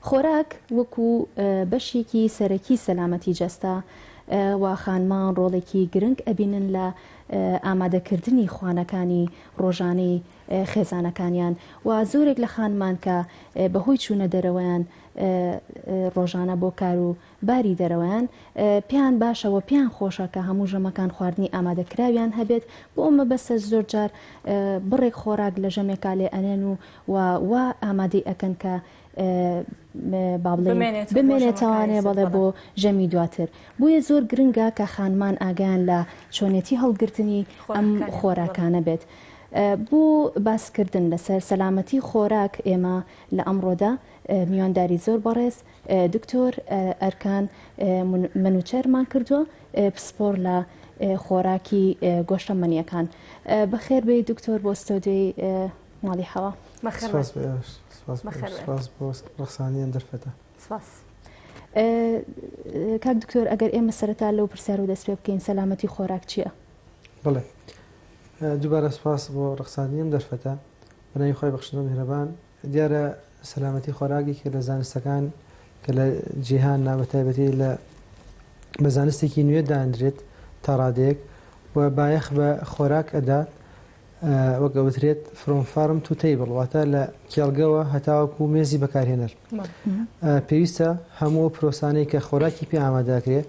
خۆراک وەکو بەشێکی سەرەکی سەلامەتی جەستە و خانمان ڕۆڵێکی گرنگ ئەبینن لە ئامادەکردنی خوانەکانی ڕۆژانەی خێزانەکانیان و زۆرێک لە خانمان کە بەهۆی چوونە دەرەوەیان ڕۆژانە بۆ کار و باری دەرەوەیان پێیان باشە وە پێیان خۆشە کە هەموو ژەمەکان خواردنی ئامادە کراویان هەبێت بۆ ئەو مەبەستەش زۆر جار بڕێک خۆراک لە ژەمێکا لێ ئەنێن و وە وا ئامادەی ئەکەن کە با بڵێین بمێنێت تاوانێ بەڵێ بۆ ژەمی دواتر بۆیە زۆر گرنگە کە خانمان ئاگیان لە چۆنێتی هەڵگرتنی ئەم خۆراکانە بێت. بۆ باسکردن لەسەر سەلامەتی خۆراک ئێمە لە ئەمڕۆدا میوانداری زۆر بەڕێز دکتۆر ئەرکان منوچەرمان کردووە پسپۆر لە خۆراکی گۆشتە مەنیەکان بەخێر بێ دکتۆر بۆ ستۆدیۆی ماڵی حەوا ڕخسانیان دەرفەتە کاک دکتۆر ئەگەر ئێمە سەرتا لەو پرسیار و دەست پێ بکەین سەلامەتی خۆراک چییە؟ بڵێ دووبارە سپاس بۆ ڕخسانیم دەرفەتە بەناوی خۆی بەخشنەوە میهرەبان دیارە سەلامەتی خۆراک یەکێکە لە زانستەکان کە لە جیهاننا بە تایبەتی لە بە زانستێکی نوێ دادرێت تا ڕادەیەک و بایەخ بە خۆراک ئەدا وەگەوترێت فرۆم فارم تو تیبڵ واتە لە کێڵگەوە هەتاوەکو و مێزی بەکارهێنەر پێویستە هەموو پرۆسانەی کە خۆراکی پێ ئامادەکرێ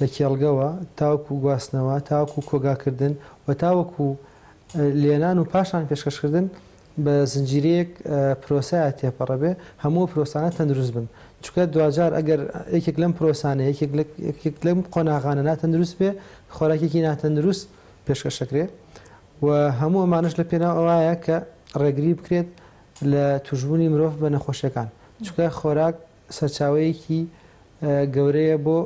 لە کێڵگەوە تاوکو و گواستنەوە تاوکو و کۆگاکردن و تاوەکو لێنان و پاشان پێشکەشکردن بە زنجیرەیەک پرۆسەیە تێپەڕە بێ هەموو ئەو پرۆسانە تەندروست بن چونکە دواجار ئەگەر یەکێک لەم پرۆسانە یەکێک لە یەکێک لەم قۆناغانە ناتەندروست بێ خۆراکێکی ناتەندروست پێشکەشەکرێ و هەموو ئەمانش لە پێناو ئەوایە کە ڕێگری بکرێت لە توشبوونی مرۆڤ بە نەخۆشیەکان چونکە خۆراک سەرچاوەیەکی گەورەیە بۆ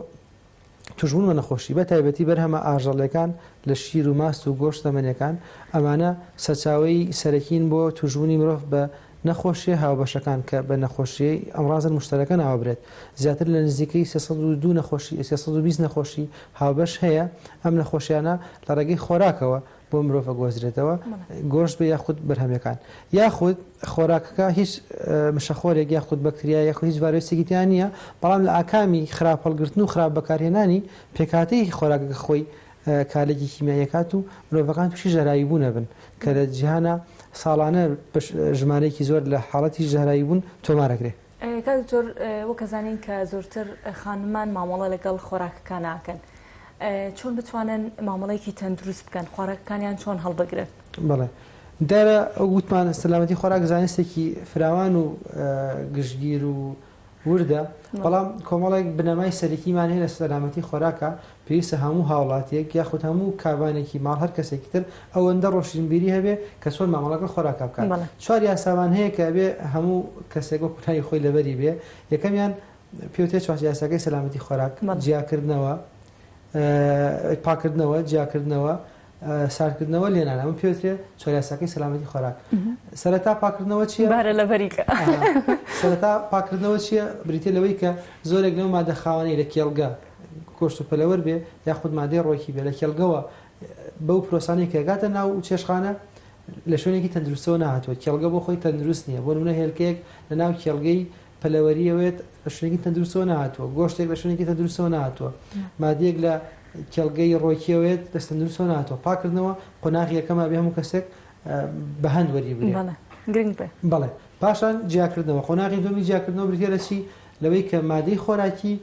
توشبوون بە نەخۆشی بە تایبەتی بەرهەمە ئاژەڵیەکان لە شیر و ماست و گۆشت زەمەنیەکان ئەمانە سەرچاوەی سەرەکین بۆ توشبوونی مرۆڤ بە نەخۆشیە هاوبەشەکان کە بە نەخۆشیی ئەمڕازن مشتەرەکە ناوبرێت زیاتر لە نزیکەی سێ سەد و دوو نەخۆشی سێ سەد و بیست نەخۆشی هاوبەش هەیە ئەم نەخۆشیانە لە ڕێگەی خۆراکەوە بۆ مرۆڤە گۆزرێتەوە گۆشت بێ یاخود بەرهەمەکان یاخود خۆراکەکە هیچ مشەخۆرێک یاخود بەکتریا یاخود هیچ ڤایرۆسێکیتیان نییە بەڵام لە ئاکامی خراپ هەڵگرتن و خراپ بەکارهێنانی پێکاتەیەکی خۆراکەکە خۆی کارێکی کیمیایەکات و مرۆڤەکان تووشی ژەرایی بوون نەبن کە لە جیهانە ساڵانە ژمارەیەکی زۆر لە حاڵەتی ژەرایی بوون تۆمارەگرێت کاک دکتۆر وەک ئەزانین کە زۆرتر خانمان مامەڵە لەگەڵ خۆراکەکان ناکەن چۆن بتوانن مامەڵێکی تەندروست بکەن خۆراکەکانیان چۆن هەڵبگرن بڵێ دیارە ئەو گوتمان سەلامەتی خۆراک زانستێکی فراوان و گشتگیر و وردە بەڵام کۆمەڵێک بنەمای سەرەکیمان هەیە لە سەلامەتی خۆراکە پێویستە هەموو هاوڵاتیەک یاخود هەموو کابانێکی ماڵ هەر کەسێکی تر ئەوەندە ڕۆشنبیری هەبێ کە چۆن مامەڵە لەگەڵ خۆراکا بکات بەڵێ. چوار یاسامان هەیە کە ئەبێ هەموو کەسێک وەکو ناوی خۆی لەبەری بێ یەکەمیان پێی وترێ چوار یاساکەی سەلامەتی خۆراک بەڵێ. جیاکردنەوە، پاککردنەوە، جیاکردنەوە، ساردکردنەوە لێنان ئەمە پێوترێ چۆریاسەکەی سەلامەتی خۆراک سەرەتا پاکردنەوە چیە بارە لە بەریکە سەرەتا پاکردنەوە چیە بریتە لەوەی کە زۆرێک لەو مادە خاوەنەی لە کێڵگە کۆشت و پەلەوەر بێ یاخود مادەی ڕۆکی بێ لە کێڵگەوە بەو پرۆسانی کەگاتە ناو و چێشخانە لە شوێنێکی تەندروستەوە نهاتوە کێڵگە بۆ خۆی تەندروست نییە بۆ نونە هێلکەیەک لە ناو کێڵگەی پەلەوەری ئەوێت بە شوێنێکی تەندروستەوە نەهاتووە، گۆشتێک لە شوێنێکی تەندروستەوە نەهاتووە، مادەیەک لە کێڵگەی ڕۆکی ئەوێت دەست تەندروستەوە نەهاتووە، پاککردنەوە قۆناغی یەکەمە ئەبێ هەموو کەسێک بە هەند وەریبگرێ. بەڵێ گرنگ بێ. بەڵێ پاشان جیاکردنەوە، قۆناغی دووەمی جیاکردنەوە بریتییە لە چی؟ لەوەی کە مادەی خۆراکی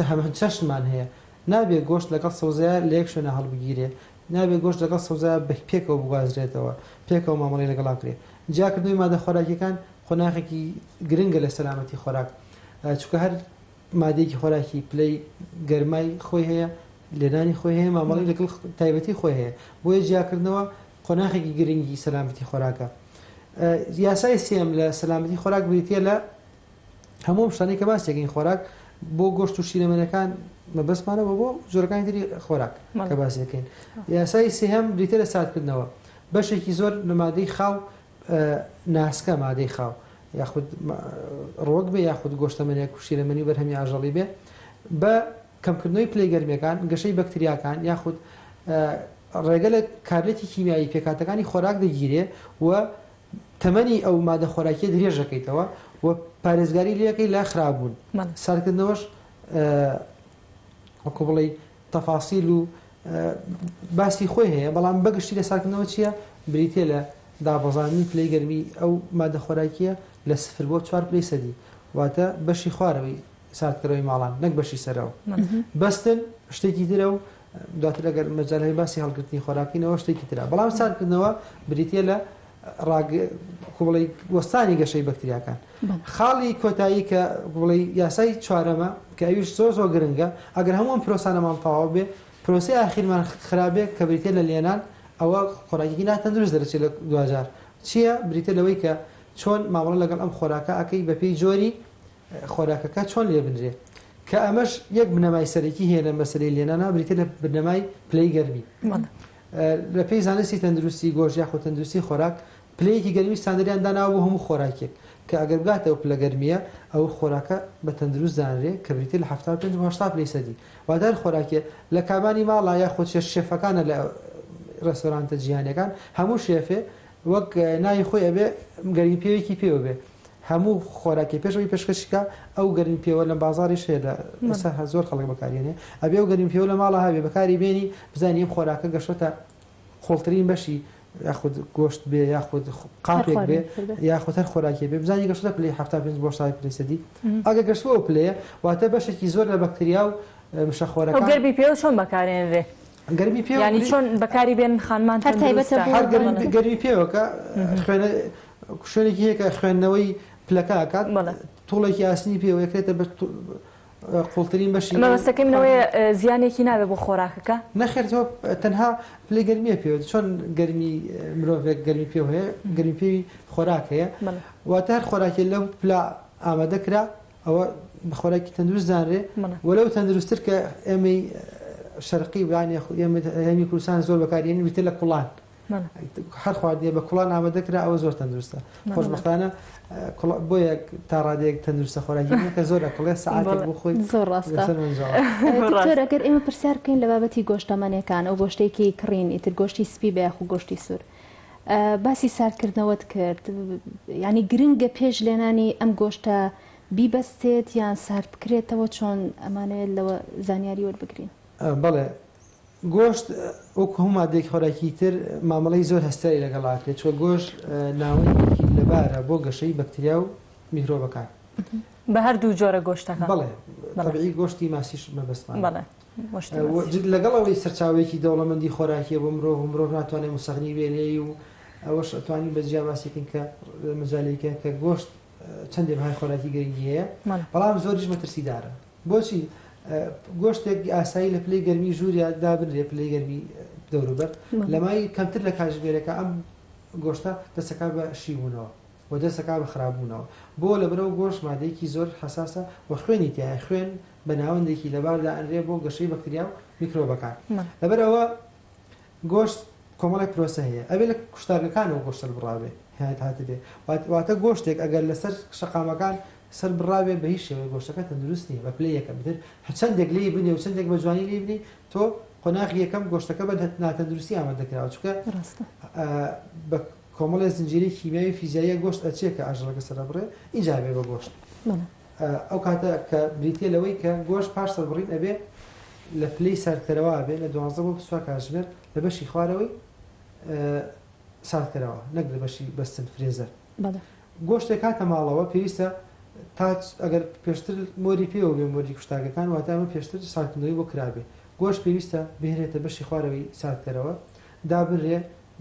هەمان چەشنمان هەیە، نابێ گۆشت لەگەڵ سەوزەیا لە یەک شوێنا هەڵبگیرێ، نابێ گۆشت لەگەڵ سەوزەیا بە پێکەوە بگوازرێتەوە، پێکەوە مامەڵەی لەگەڵا بکرێ. جیاکردنەوەی مادە خۆراکییەکان قۆناغێکی گرنگە لە سەلامەتی خۆراک، چونکە هەر مادەیەکی خۆراکی پلەی گەرمای خۆی هەیە، لێنانی خۆی هەیە، مامەڵەی لەگەڵ تایبەتی خۆی هەیە، بۆیە جیاکردنەوە قۆناغێکی گرنگی سەلامەتی خۆراکە. یاسای سێیەم لە سەلامەتی خۆراک بریتییە لە هەموو ئەم شتانەی کە باسی دەکەین خۆراک بۆ گۆشت و شیرەمەنەکان مەبەستمانە بۆ بۆ جۆرەکانی تری خۆراک کە باسی دەکەین یاسایی سێهەم بریتە لە ساردکردنەوە بەشێکی زۆر لە مادەی خاو ناسکە مادەی خاو یاخود ڕۆک بێ یاخود گۆشتەمەنێک و شیرەمەنی بەرهەمی ئاژەڵی بێ بە کەمکردنەوەی پلی گەرمەکان گەشەی بەکتریاکان یاخود ڕێگە لە کارلێتی کیمیایی پێکاتەکانی خۆراک دەگیرێ و تەمەنی ئەو مادە خۆراکیە درێژ دەکەیتەوە و پارێزگاری لەکەی لە خرابوون ساردکردنەوەش وەکو بڵێ تەفاسیل و باسی خۆی هەیە بەڵام بەگشتی لە ساردکردنەوە چییە بریتە لە دابەزانانی پلەی گەرمی ئەو مادە خۆراکیە لە سفر بۆ چوار پلی سەدی واتە بەشی خوارەوەی ساردکەرەوەی ماڵان نەک بەشی سەرەوە بەستن شتێکی ترە و دواتر ئەگەر مەجال هەبێ باسی هەڵگرتنی خۆراکینەوە شتێکی ترە بەڵام ساردکردنەوە بریتە لە بڵی وەستانی گەشەی بەکتریاکان خاڵی کۆتایی کە بڵی یاسای چوارەمە کە ئەویش زۆر زۆر گرنگە ئەگەر هەمووم پرۆسانەمان تەواو بێ پرۆسی ئاخیرمان خراپێک کە بریتە لە لێنان ئەوە خۆراکی ناتەندروست دەرچێت لە دواجار چییە بریتە لەوەی کە چۆن مامەڵە لەگەڵ ئەم خۆراکە ئەەکەی بەپی جۆری خۆراکەکە چۆن لێ بنرێ کە ئەمەش یەک بنەمای سەرەکی هەیە لە مەسلەی لێنانا بریتە لە بنەمای پلەی گەرمی لە پێی زانستی تەندروستی گۆژ یاخۆ تەندروستی خۆراک پلەیەکی گەرمی ساندریان داناوە بۆ هەموو خۆراکێک کە ئەگەر بگاتەوە پلە گەرمیە ئەو خۆراکە بە تەندروست زانرێ کە بریتە لە 1970 پلی سەدی وادار خۆراکێ لە کابانی ماڵا یا خۆ چێش شێفەکانە لە ڕێستۆرانتە جیهانەکان هەموو شێفێ وەک ناوی خۆی ئەبێ گەرمی پێوێکی پێوە بێ هەموو خۆراکێ پێش ئەوەی پێشکەشی کا ئەو گەرمی پێوە لەم بازاریش هەیە لە ئێستا هە زۆر خەڵک بەکارێنێ ئەبێ و گەرمی پێوە لە ماڵە هەبێ بەکاری بێنی بزانانی ئەم خۆراکە گەشتە قوڵترین بەشی یاخود گۆشت بێ یاخود قاپێک بێ یاخود هەر خۆراکی بێ بزانانی گەشتە پلی ه پێ بۆ سای پلیسەدی ئەگە گەشتەوە پلەیە واتە بەشێکی زۆر لە بەکتریا و مشەخۆرە گەربی پێوە چۆن بەکارێنرێ گەرمی پێوە یانی چۆن بەکاری بێن خانمان هەر تایبەتە بۆ هەر گەرمی پێوەکە خوێنە شوێنێکی هەیە کە خوێندنەوەی پلەکە ئەکات توڵێکی ئاسنی پێوە یەکرێتە بە قوڵترین بەشی مەبەستەکەی منەوەی زیانێکی نابێ بۆ خۆراکەکە نەخێرەوە تەنها پلی گەرمیە پێ چۆن گەرمی مرۆڤێک گەرمی پێ هەیە گەرمی پێوی خۆراک هەیە واتە هەر خۆراکی لەم پلا ئامادە کرا ئەوە خۆراکی تەندروست زانرێ وەلەو تەندروستتر کە ئێمەی شەرقی وان ئێمەمی کوردستان زۆر بەکارێن ویتر لە کوڵان هەر خواردنێ بە کوڵان ئامادەکرا ئەوە زۆر تەندروستە خۆشببختانە بۆیە تا ڕادێک تەندروستە خۆراکیکە زۆر لە کڵێ سعات بخۆی زۆر ڕاستەگەر ئێمە پرسیار بکەین لە بابەتی گۆشتەمەنەکان ئەو گۆشتێکی کڕین ئیتر گۆشتی سپی بەیاخ و گۆشتی سوور باسی ساردکردنەوەت کرد یانی گرنگە پێش لێنانی ئەم گۆشتە بیبەستێت یان سارد بکرێتەوە چۆن ئەمانەیە لەوە زانیاری وەربگرین. بەڵێ گۆشت وەکو هەموو مادەیەکی خۆراکی تر مامەڵەی زۆر هەستیاری لەگەڵاکرێت چوە گۆشت ناوەندێکی لەبارە بۆ گەشەی بەکتریا و میکرۆبەکان. بە هەردوو جۆرە گۆشتەکان. بەڵێ تەبعی گۆشتی ماسیش مەبەستمانە. لەگەڵ ئەوەی سەرچاوەیەکی دەوڵەمەندی خۆراکیە بۆ مرۆڤ و مرۆڤ ناتوانێت موسەغنی بێ لێی و ئەوەش ئەتوانین بە جیا باسیکن کە مەجالێکە کە گۆشت چەندێ بەهای خۆراکی گرنگی هەیە بەڵام زۆریش مەترسیدارە بۆچی گۆشتێک ئاسایی لە پلەی گەرمی ژووریا دابنرێ پلەی گەرمی دەوروبەر لەمای کەمتر لە کاژمێرەکە ئەم گۆشتە دەسەکە بە شیبوونەوە و دەستەکا بە خراپ بوونەوە بۆ لەبەر ئەو گۆشت مادەیەکی زۆر حەساسە و خوێنی تیایە خوێن بە ناوەندێکی لەبار دائەنرێ بۆ گەشەی بەکتریا و میکرۆبەکان لەبەر ئەوە گۆشت کۆمەڵێک پرۆسە هەیە ئەبێ لە کوشتارگەکانەوە گۆشت سەربڕابێ هات هاتبێ واتە گۆشتێک ئەگەر لەسەر شەقامەکان سەربڕاوێ بە هیچ شێوەیە گۆشتەکە تەندروست نییە بە پلەی یەکەم تر هەچەندێک لێی بنێ و چندێک بە جوانی لێ بنی تۆ قۆناغی یەکەم گۆشتەکە بە ناتەندروستی ئامادە دەکراوە چکە بە کۆمەڵێ زنجیرەی کیمیاوی و فیزیاییە گۆشت ئەچێ کە ئاژەڵەکە سەردەبڕێ ئینجا ئەبێ بە گۆشت ئەو کاتە کە بریتیە لەوەی کە گۆشت پاش سەربڕین ئەبێ لە پلەی ساردکەرەوە ئەبێ لە دوازدە بۆ بیست و چوار کاتژمێر لە بەشی خوارەوەی ساردکەرەوە نەک لە بەشی بەستن فرێزەر گۆشتێک هاتە ماڵەوە پێویستە تا ئەگەر پێشتر مۆری پێوە بێ مۆری کوشتاگەکان واتە ئەمە پێشتر ساردکردنەوەی بۆ کرابێ گۆشت پێویستە بهێنێتە بەشی خوارەوەی ساردکەرەوە دابنرێ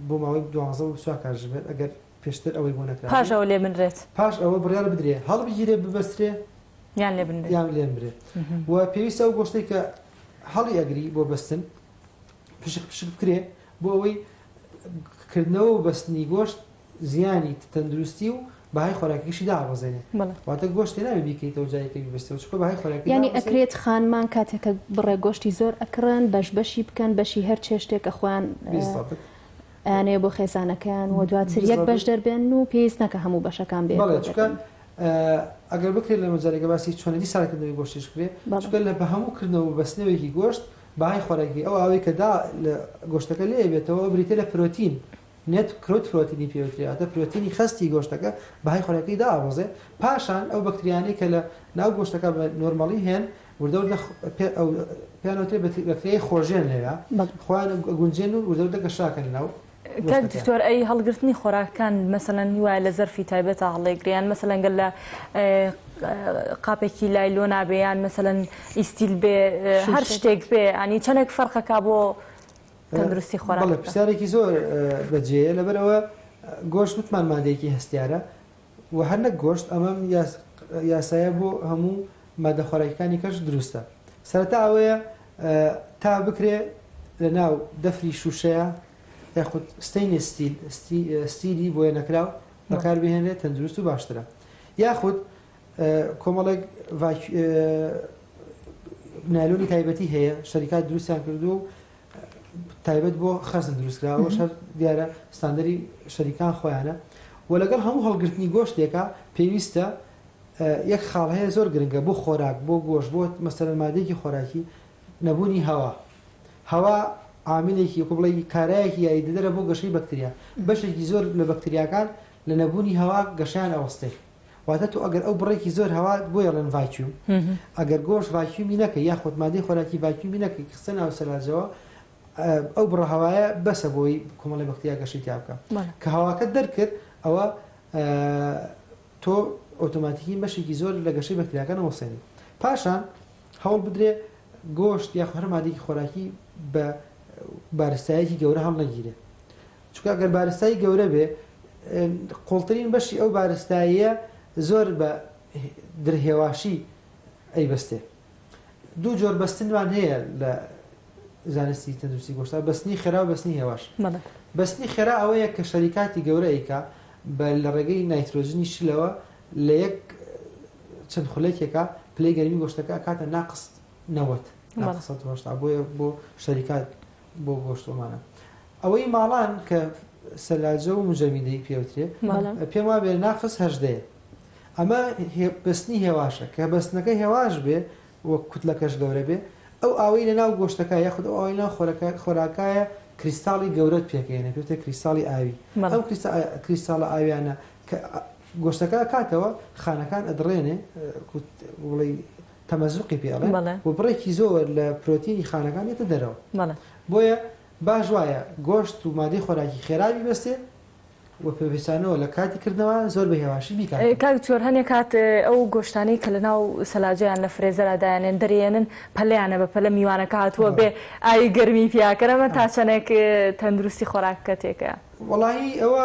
بۆ ماوەی دوازدە بۆ بیست و چوار کات ژمێر ئەگەر پێشتر ئەوەی بۆ نەکرابێت پاش ئەوە لێ بنرێت پاش ئەوە بڕیار بدرێت هەڵبگیرێت ببەسترێت یان لێ بنرێت یان لێ بنرێت و پێویستە ئەو گۆشتەی کە هەڵی ئەگری بۆ بەستن پشک پشک بکرێت بۆ ئەوەی کردنەوە و بەستنی گۆشت زیانی تەندروستی و بەهای خۆراکیشی دابەزێنێ واتە گۆشت لێ نابێ بیکەیتەوە جا یەکە بیبەستەوە چونکە بەهای خۆراکی دابەزێنێ یانی ئەکرێت خانمان کاتێک کە بڕێک گۆشتی زۆر ئەکڕن بەش بەشی بکەن بەشی هەر چێشتێک کە خۆیان بیستەپت ئەیانەیە بۆ خێزانەکەیان و دواتر یەک بالضبط. بەش دەربێن و پێویست ناکە هەموو بەشەکان بێت بەڵێ چونکە ئە، ئەگەر بکرێت لە مەجالێکە باسی چۆنێتی ساردکردنەوەی گۆشتیش بکرێت بەڵێ. چونکە لە بە هەموو کردنەوە و بەستنەوەیەکی گۆشت بەهای خۆراکی ئەو ئاوەی کە دا لە گۆشتەکە لێ ئەبێتەوە ئەو بریتییە لە پرۆتین نێت کرۆتپرۆتینی پێوترێ واتە پرۆتینی خەستی گۆشتەکە بەهای خۆراکیی دائەڕۆزێ پاشان ئەو بەکتریانەی کە لە ناو گۆشتەکە بە نۆرمەڵی هێن وردە وردە پێیان وترێ بەکتریای خۆژێن لەوێ خۆیان ئەگونجێن و وردە وردە گەشاکەنە ناو کاک دکتۆر ئەی هەڵگرتنی خۆراکەکان مەسەلەن وایە لە زەرفی تایبەتە هەڵێگریان مەسەلەن گەل لە قاپێکی لای لۆ نابێیان مەسەلەن ئیسیل بێ هەر شتێک بێ ئەنی چەندێک فەرقەکە بۆ تەندروستی خۆراک بکات. بەڵێ پرسیارێکی زۆر بەجێیە لەبەرەوە گۆشت وتمان مادەیەکی هەستیارە و هەر نەک گۆشت ئەمەم یاسایە بۆ هەموو مادە خۆراکەکانی کەش دروستە سەرەتا ئەوەیە تا بکرێ لە ناو دەفری شووشەیە یاخود ستینی ستیل ستیلی بۆیە نەکراو بەکاربهێنێت تەندروست و باشترە یاخود کۆمەڵێک نایلۆنی تایبەتی هەیە شەریکات دروستیان کردو و تایبەت بۆ خەزن دروستکراوە شەر دیارە ستاندری شەریکان خۆیانە و لەگەڵ هەموو هەڵگرتنی گۆشتێکە پێویستە یەک خاڵ هەیە زۆر گرنگە بۆ خۆراک بۆ گۆش بۆ مەسەر مادێکی خۆراکی نەبوونی هەوا هەوا عاملێکی کو بڵێ کارایەکی یاری دەدەرە بۆ گەشەی بەکتریا بەشێکی زۆر لە بەکتریاکان لە نەبوونی هەوا گەشیان ئەوەستێ واتە تۆ ئەگەر ئەو بڕێکی زۆر هەوا بۆی ئەڵێن ڤاکیوم ئەگەر گۆشت ڤاکیومی نەکەی یاخود مادەی خۆراکی ڤاکیومی نەکەی کە خستە ناو سەلاجەوە ئەو بڕە هەوایە بەسە بۆی کۆمەڵی بەختیا گەشەی تیا بکە کە هەواکە دەرکرد ئەوە تۆ ئۆتۆماتیکی بەشێکی زۆر لە گەشەی بەکتریاکان وەسێنی پاشان هەوڵ بدرێ گۆشت یا هەر مادێکی خۆراکی بە بارستایەکی گەورە هەڵنەگیرێ چونکە ئەگەر بارستایی گەورە بێ قوڵترین بەشی ئەو بارستاییە زۆر بە در هێواشی ئەیبەستێ دوو جۆر بەستنمان هەیە لە زانستی تەندروستی گۆشتا بەستنی خێرا و بەستنی هێواش بەستنی خێرا ئەوەیە کە شەریکاتی گەورە ئەیکا بە لە ڕێگەی نایترۆژنی شلەوە لە یەک چەند خولێکێکە پلەی گەرمی گۆشتەکە کاتە ناقست نەوەت بۆیە بۆ شەریکات بۆ گۆشت و مانە ئەوەی ماڵان کە سەلاجە و مجەمیدەی پێوترێ پێم وابێ ناقس هەژدەیە ئەمە بەستنی هێواشە کە بەستنەکە هێواش بێ وەک کوتلەکەش گەورە بێ ئەو ئاوەی لە ناو گۆشتەکە یاخود ئەو ئەوەی ناو خۆراکایە کریستاڵی گەورەت پێکەێنە پێتە کریستاڵی ئاوی ئەم کریستاڵە ئاویانە کە گۆشتەکە کاتەوە خانەکان ئەدڕێنێ بڵێ تەمەزوقی پێ ئەڵێن بەڵێ. و بڕێکی زۆر لە پرۆتینی خانەکان دێتە دەرەوە بەڵێ. بۆیە باش وایە گۆشت و مادەی خۆراکی خێرا بیبەستێ و پێویستانەوە لە کاتی کردنەوە زۆر بە هێواشی بیکاتەوە. کاک دکتۆر هەنێ کات ئەو گۆشتانەی کە لە ناو سەلاجە یان لە فرێزەرا دایەنێن دەریێنن پەلیانە بە پەلە میوانەکە هاتووە بێ ئاوی گەرمی پیا کەن ئەمە تا چەندێک تەندروستی خۆراکەکە تێکەیە؟ وەڵاهی ئەوە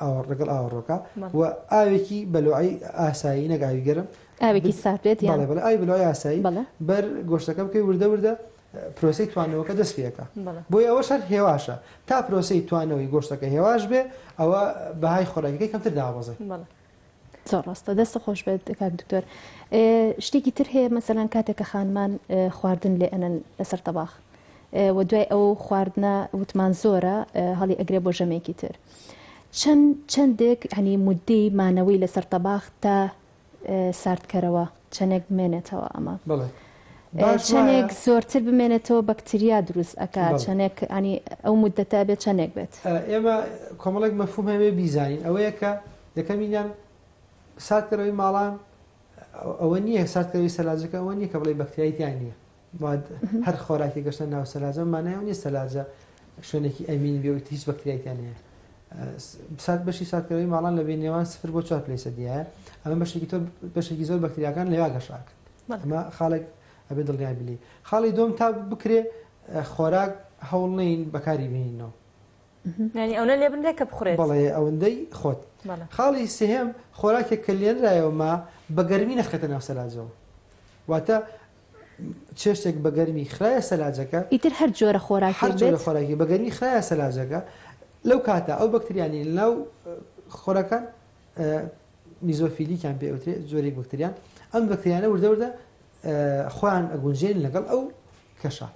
ئاوەڕ لەگەڵ ئاوەڕۆکە و ئاوێکی بەلۆعی ئاسایی نەک ئاوی گەرم ئاوێکی ساتێت یاڵێ بەڵێ ئای بلۆی ئاسایی بەر گۆشتەکە بکەی وردە وردە پرۆسی توانەوەکە دەست پێەکە بۆی ئەوە شەر هێواشە تا پرۆسی توانەوەی گۆشتەکە هێواش بێ ئەوە بەهای خۆراکەکەی کەمتر دابەزێ زۆر ڕاستە دەست خۆش بێت کاک دکتۆر شتێکی تر هەیە مەسەلەن کاتێک کە خانمان خواردن لێ ئەنن لەسەر تەباخ و دوای ئەو خواردنە وتمان زۆرە هەڵی ئەگرێ بۆ ژەمێکی تر چەند چەندێک هەنی مدەی مانەوەی لەسەر تەباخ تا ساردکەرەوە چەندێک بمێنێتەوە ئەمە بڵێ چەندێک زۆرتر بمێنێتەوە بەکتریا دروست ئەک چەندێک ئەنی ئەو مدەتا بێت چەندێک بێت ئێمە کۆمەڵێک مەفومەوێ بیزانین ئەوەیە کە یەکەمینیان ساردکەرەوەی ماڵان ئەوە نییە ساردکەوی سەلاجەکە ئەوە نییە کە بڵی بەکتریای تیا نییە هەر خۆراکی گەشتە ناو سەلاجە مانای نیە سەلاجە شوێنێکی ئەمین بێ هیچ بەکتریایان هەیە سات بەشی ساتکەوەی ماڵان لە بێ نێوان سفر بۆ چوار پلیسە دیایە ئەمە بەشێکی تۆ بەشێکی زۆر بەکتریاکان لەوا گەشاکە ئەمە خاڵێک ئەبێ دڵنیای بلی خاڵی دۆم تا بکرێ خۆراک هەوڵ نین بەکاری بینینەوە یانی ئەونە لێ بنرێ کە بخورێت. بەڵێ ئەوندەی خۆت. خاڵی سێهەم، خۆراکێک کە لێنرایەوە ما بە گەرمی نەخرێتە ناو سەلاجەوە. واتە چێشتێک بە گەرمی خرایە سەلاجەکە. ئیتر هەر جۆرە خۆراکێک بێت. هەر جۆرە خۆراکی بە گەرمی خرایە سەلاجەکە لەو کاتە ئەو بەکتریانی لەناو خۆراکان میزۆفیلیکیان پێ ئەوترێ جۆرێک بەکتریان ئەم بەکتریانە وردە وردە خۆیان ئەگونجێن لەگەڵ ئەو کەشە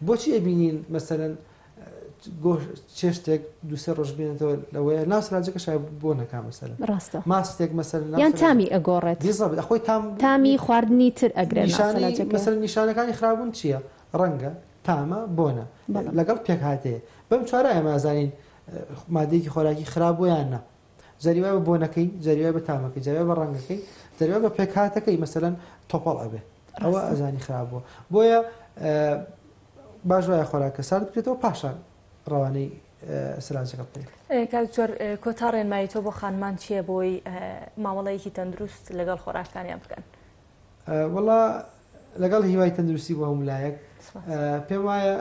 بۆچی ئەبینین مەسەرەن چێشتێک دوسێ ڕۆژ بێنێتەوە لەوەیە ناسراجەکە شای بۆ نەکا مەسەر ڕاستە ماستێک مەسەر یان تامی ئەگۆڕێت خۆی تام تامی خواردنی تر ئەگرێت مەسەر نیشانەکانی خراپبوون چییە ڕەنگە تامە بۆنە لەگەڵ پێکهاتەیە بەم چوارە ئەمازانین مادەیەکی خۆراکی خراپ بۆیان نە جاری وایە بە بۆنەکەی جاری وایە بە تامەکەی جاری وایە بە ڕەنگەکەی جاری وایە بە پێکهاتەکەی مەسەلەن تۆپەڵ ئەبێ ئەوە ڕاستە. ئەزانی خراپ بووە بۆیە ئە، باش وایە خۆراکە سارد بکرێتەوە پاشان ڕەوانەی ئە، سەلاجەکە بکەین ئێ کاک دکتۆر ئێ کۆتا ڕێنمایی تۆ بۆ خانمان چییە بۆی ئە، مامەڵەیەکی تەندروست لەگەڵ خۆراکانیان بکەن؟ ئە، وەڵا لەگەڵ هیوای تەندروستی بۆ هەموو لایەک سپاس. ئە، پێم وایە،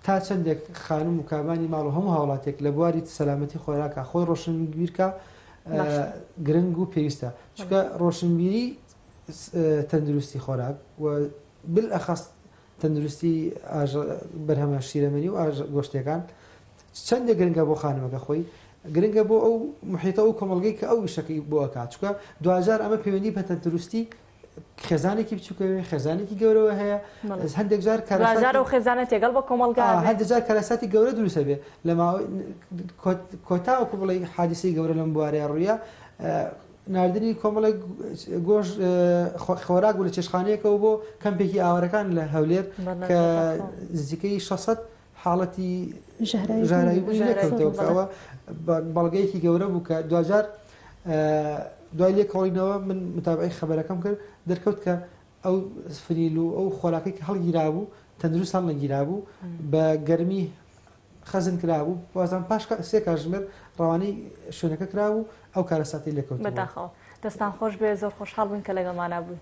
تا چەندێک خانم و کابانی ماڵ و هەموو هاوڵاتێک لە بواری سەلامەتی خۆراکە خۆی ڕۆشنبیرکە گرنگ و پێویستە چکە ڕۆشنبیری تەندروستی خۆراک و بل ئەخەست تەندروستی بەرهەمە شیرەمەنی و ئاژ گۆشتەکان چەندە گرنگە بۆ خانمەکە خۆی گرنگە بۆ ئەو محیتە و کۆمەلگەی کە ئەو وشەکەی بۆکات چکە دوجار ئەمە پەیوەندی پەتەندروستی خێزانێکی بچووکەوێ خێزانێکی گەورەوە هەیە هەندێک جار کارزار و خێزانە تێگەڵ بە کۆمەلگا هەندێک جار کارەساتی گەورە دروستە بێ لە کۆتاوەکو بڵێ حادیسی گەورە لەم بوارێ ڕوویە نردنی کۆمەڵێک گۆش خۆراک بوو لە چێشخانەیەکەوە بۆ کەمپێکی ئاوارەکان لە هەولێر کە نزیکەی 600 حاڵەتی ژەهراوی بوونی لێکەوتەوە کە ئەوە بەڵگەیەکی گەورە بوو کە دواجار دوای لێکۆڵینەوە من متابعی خەبەرەکەم کرد دەرکەوت کە ئەو فریل و ئەو خۆراکەی کە هەڵگیرابوو تەندروستان نەگیرابوو بە گەرمی خەزن کرابوو بازان پاش سێ کاژمێر ڕەوانەی شوێنەکە کرابوو ئەو کارەساتی لێکەوت بەداخەوە دەستان خۆش بێ زۆر خۆشحاڵ بووین کە لەگەڵمانە بووین